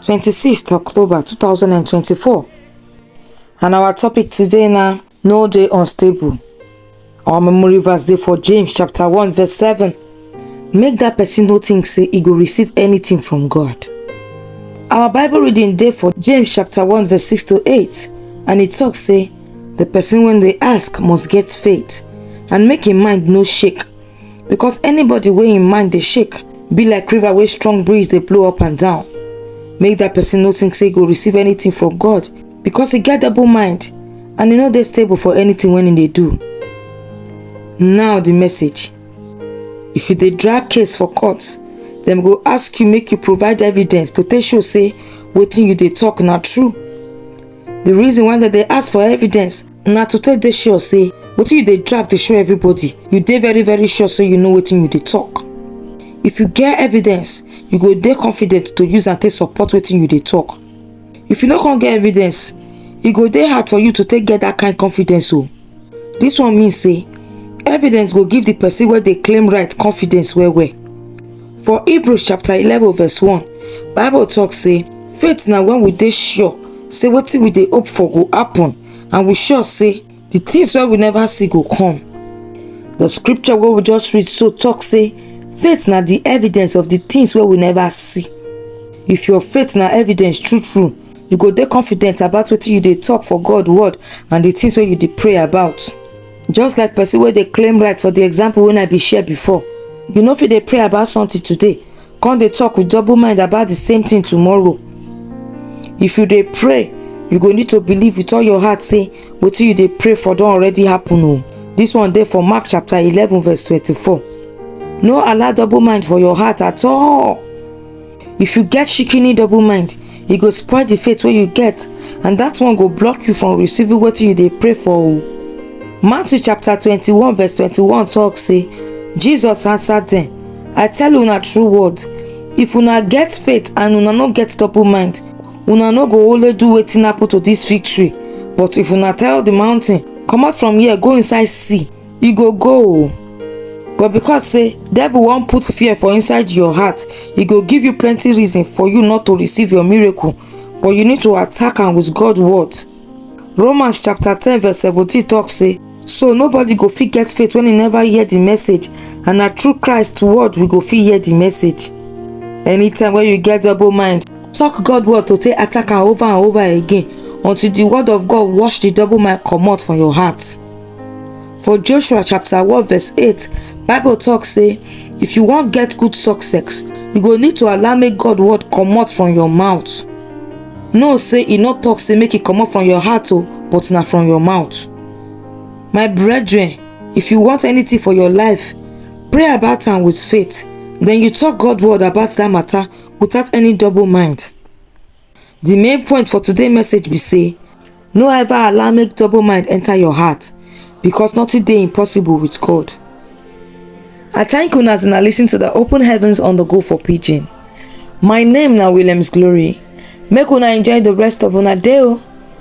26th October 2024 and our topic today na no dey unstable. Our memory verse dey for James chapter 1 verse 7. Make that person no think say e go receive anything from God. Our Bible reading dey for James chapter 1 verse 6 to 8 and e talk say the person wey dey ask must get faith and make im mind no shake because anybody wey im mind dey shake be like river wey strong breeze dey blow up and down make that person no think say e go receive anything from god because e get double mind and e no dey stable for anything wey e dey do now the message if you dey drag case for court dem go ask you make you provide evidence to take show say wetin you dey talk na true the reason why dem dey ask for evidence na to take dey sure say wetin you dey drag dey show everybody you dey very very sure say you know wetin you dey talk if you get evidence you go dey confident to use am take support wetin you dey talk if you no come get evidence e go dey hard for you to take get that kind confidence o this one mean say evidence go give the person wey dey claim right confidence well well for hebrews chapter eleven verse one bible talk say faith na when we dey sure say wetin we dey hope for go happen and we sure say the things wey we never see go come the scripture wey we just read so talk say faith na the evidence of the things wey we never see if your faith na evidence true true you go dey confident about wetin you dey talk for god word and the things wey you dey pray about just like person wey dey claim right for the example wey i bin share before you no fit dey pray about something today come dey talk with double mind about the same thing tomorrow if you dey pray you go need to believe with all your heart say wetin you dey pray for don already happen o this one dey for mark chapter eleven verse twenty-four no allow double mind for your heart at all if you get shikini double mind e go spoil the faith wey you get and that one go block you from receiving wetin you dey pray for o matthew chapter twenty-one verse twenty-one talk say jesus answer dem i tell una true words if una get faith and una no get double mind una no go only do wetin happen to dis fig tree but if una tell the mountain comot from here go inside sea e go go o but because say devil wan put fear for inside your heart e go give you plenty reason for you not to receive your miracle but you need to attack am with god word Romans chapter 10 verse 17 talk say, So nobody go fit get faith when he never hear the message, and na through Christ word we go fit hear the message. Anytime when you get double mind, talk God word to take attack am over and over again until the word of God wash the double mind comot from your heart. For Joshua chapter 1 verse 8, Bible talk say, if you wan get good success, you go need to allow make God word comot from your mouth. Know say e no talk say make e comot from your heart o, but na from your mouth. My brethren, if you want anything for your life, pray about am with faith, then you talk God word about that matter without any double mind. The main point for today message be say no ever allow make double mind enter your heart because nothing dey impossible with God. I thank una as una listen to the Open Heavens on the Go for Pidgin. My name na Williams Glory. Make una enjoy the rest of una day o.